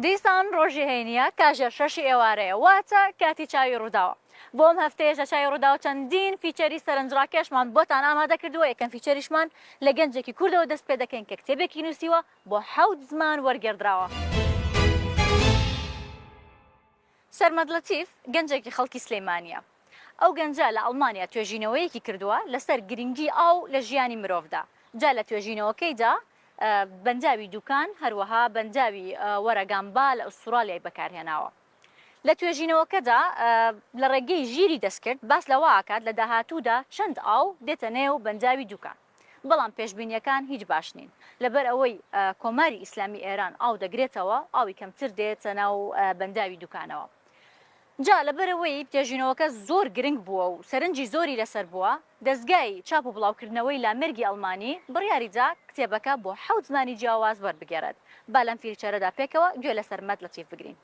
دیسان ڕۆژی هەینییە، کاژێر شەشی ئێوارەیە، واتە کاتی چاوی ڕووداوە. بۆ ئەم هەفتەیەش لە چاوی ڕووداو چەندین فیچەری سەرنجڕاکێشمان بۆتان ئامادە کردووە، یەکەم فیچەریشمان لە گەنجێکی کوردەوە دەست پێ دەکەین کە کتێبێکی نووسیوە بۆ حەوت زمان وەرگێڕدراوە. سەرمەد لەتیف گەنجێکی خەڵکی سلێمانییە. ئەو گەنجە لە ئەڵمانیا توێژینەوەیەکی کردووە لەسەر گرنگی ئاو لە ژیانی مرۆڤدا، جا لە توێژینەوەکەیدا بەنداوی دوکان، هەروەها بەنداوی وەرەگامبا لە ئوستورالیای بەکارهێناوە. لە توێژینەوەکەدا لە ڕێگەی ژیری دەستکرد باس لەوە ئەکات لە داهاتوودا چەند ئاو دێتە نێو بەنداوی دوکان. بەڵام پێشبینییەکان هیچ باش نین، لەبەر ئەوەی کۆماری ئیسلامی ئێران ئاو دەگرێتەوە، ئاوی کەمتر دێتە ناو بەنداوی دوکانەوە. جا لەبەر ئەوەی توێژینەوەکە زۆر گرنگ بووە و سەرنجی زۆری لەسەر بووە، دەزگای چاپ و بڵاوکردنەوەی لامێرگی ئەڵمانی بڕیاری دا کتێبەکە بۆ حەوت زمانی جیاواز وەربگێڕێت. با لەم فیرچەرەدا پێکەوە گوێ لە سەرمەد لەتیف بگرین.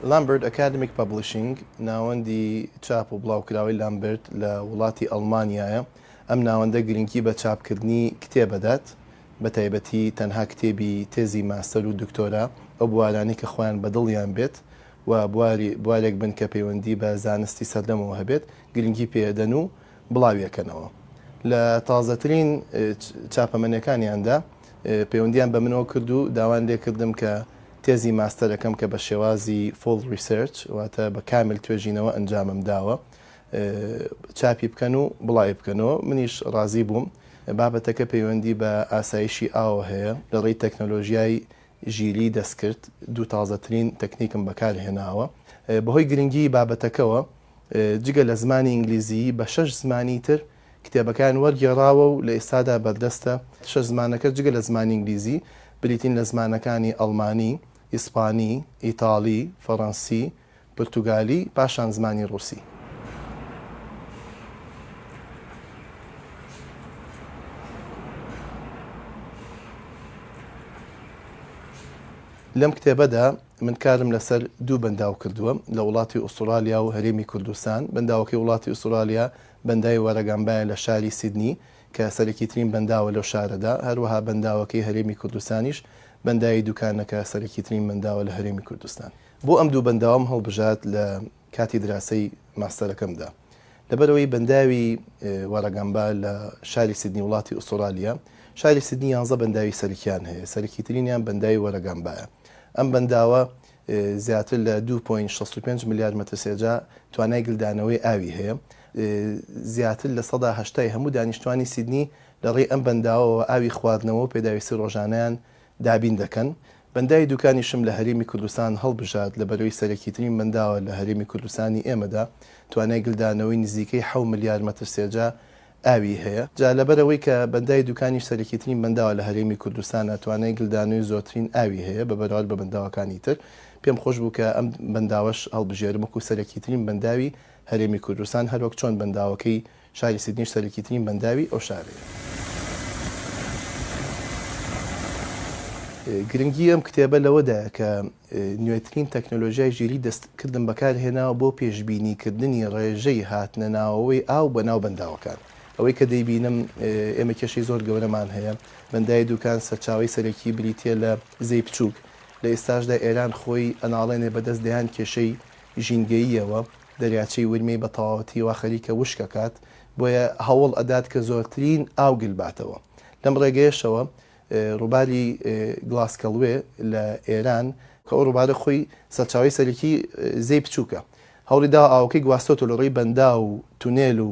لامبرد ئەکادمیک پەبلیشنگ ناوەندی چاپ و بڵاوکراوەی لامبرد لە وڵاتی ئەڵمانیایە ئەم ناوەندە گرنگی بە چاپکردنی کتێبەدات بە تایبەتی تەنها کتێبی تێزی ماستەر و دکتۆرا ئەو بوارانەی کە خۆیان بەدڵیان بێت و بواری بوارێک بن کە پەیوەندی بە زانستی سەردەمەوە هەبێت گرنگی پێدەن و بڵاویەکەنەوە لە تازەترین چاپەمەنیەکانیاندا پەیوەندیان بە منەوە کرد و داوان لێکردم کە تێزی ماستەرەکەم کە بە شێوازی Full Research واتە بە کامل توێژینەوە ئەنجامم داوە چاپی بکەن و بڵاوی بکەنەوە منیش ڕازی بووم بابەتەکە پەیوەندی بە ئاسایشی ئاوە هەیە لە ڕێی تەکنەلۆژیای ژیلی دەستکرد دوو تازەترین تەکنیکم بەکارهێناوە بەهۆی گرنگیی بابەتەکەوە جگە لە زمانی ئینگلیزیی بە شەش زمانی تر کتێبەکەیان وەرگێڕاوە و لە ئێستادا بەردەستە، شەش زمانەکە جگە لە زمانی ئینگلیزی بریتین لە زمانەکانی ئەڵمانی، ئیسپانی، ئیتاڵی، فەڕەنسی، پرتوگالی پاشان زمانی ڕووسی. لەم کتێبەدا من کارم لەسەر دوو بەنداو کردووە لە وڵاتی ئوسترالیا و هەرێمی کوردستان بەنداوەکەی وڵاتی ئوسترالیا بەنداوی وەرەگەمبایە لە شاری سیدنی کە سەرەکیترین بەنداوە لەو شارەدا هەروەها بەنداوەکەی هەرێمی کوردستانیش بەنداوی دوکانەکە سەرەکیترین بەنداوە لە هەرێمی کوردستان. بۆ ئەم دوو بەنداوەم هەڵبژارد لە کاتی دراسەی ماستەرەکەمدا. لەبەرئەوەی بەنداوی وارەگامبا لە شاری سیدنی وڵاتی ئوستوڕالیا، شاری سیدنی یانزە بەنداوی سەرکیان هەیە، سەرەکیترینیان بەنداوی وارەگامبایە. ئەم بەنداوە زیاتر لە دوو پۆینت شەست و پێنج ملیار مەترسێجا توانای گلدانەوەی ئاوی هەیە. زیاتر لە سەدا هەشتای هەموو دانیشتوانی سیدنی لەڕێی ئەم بەنداوەوە ئاوی خواردنەوە و پێداویستی ڕۆژانەیان دابین دەکەن، بەنداوی دوکانیشم لە هەرێمی کوردستان هەڵبژارد، لە بەرەی سەرەکیترین بەنداوە لە هەرێمی کوردستانی ئێمەدا، توانای گلدانەوەی نزیکەی حەو ملیار مەتر سێجا ئاوی هەیە، جا لەبەرئەوەی کە بەنداوی دوکانیش سەرەکیترین بەنداوە لە هەرێمی کوردستانا توانای گلدانەوەی زۆرترین ئاوی هەیە بە بەراورد بە بەنداوەکانی تر، پێم خۆش بوو کە ئەم بەنداوەش هەڵبژێرم وەکو سەرەکیترین بەنداوی هەرێمی کوردستان، هەروەک چۆن بەنداوەکەی. شاری سیدنیش سەرەکیترین بەنداوی ئەو شارەیە. گرنگی ئەم کتێبە لەوەدایە کە نوێترین تەکنەلۆژیای ژیریی دەستکردم بەکارهێناوە بۆ پێشبینیکردنی ڕێژەی هاتنەناوەوەی ئاو بەناو بەنداوەکان. ئەوەی کە دەیبینم ئێمە کێشەی زۆر گەورەمان هەیە. بەنداوی دوکان سەرچاوەی سەرەکی بریتییە لە زێی بچووک. لە ئێستاشدا ئێران خۆی ئەناڵێنێ بەدەست دەیان کێشەی ژینگەییەوە. دەریاچەی ورمێی بە تەواوەتی وا خەریکە وشک ئەکات، بۆیە هەوڵ ئەدات کە زۆرترین ئاو گل باتەوە. لەم ڕێگەیەشەوە ڕووباری گڵاسکەڵوێ لە ئێران، کە ئەو ڕووبارە خۆی سەرچاوەی سەرەکی زێی پچووکە هەوڵی داوە ئاوەکەی گواستۆتەوە لە ڕێی بەنداو و تونێل و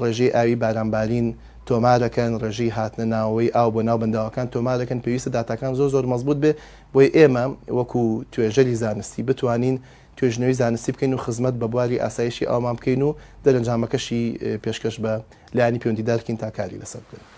ڕێژەی ئاوی بارانبارین تۆمارەکەن، ڕێژەی هاتنە ناوەوەی ئاو بۆ ناو بەنداوەکان تۆمارەکەن، پێویستە داتاکان زۆر زۆر مەزبووت بێ بۆی ئێمە وەکو توێژەری زانستی بتوانین توێژینەوەی زانستی بکەین و خزمەت بە بواری ئاسایشی ئاومان بکەین و دەرەنجامەکەشی پێشکەش بە لایەنی پێوەندیدار بکەین تا کاری لەسەر بکەن.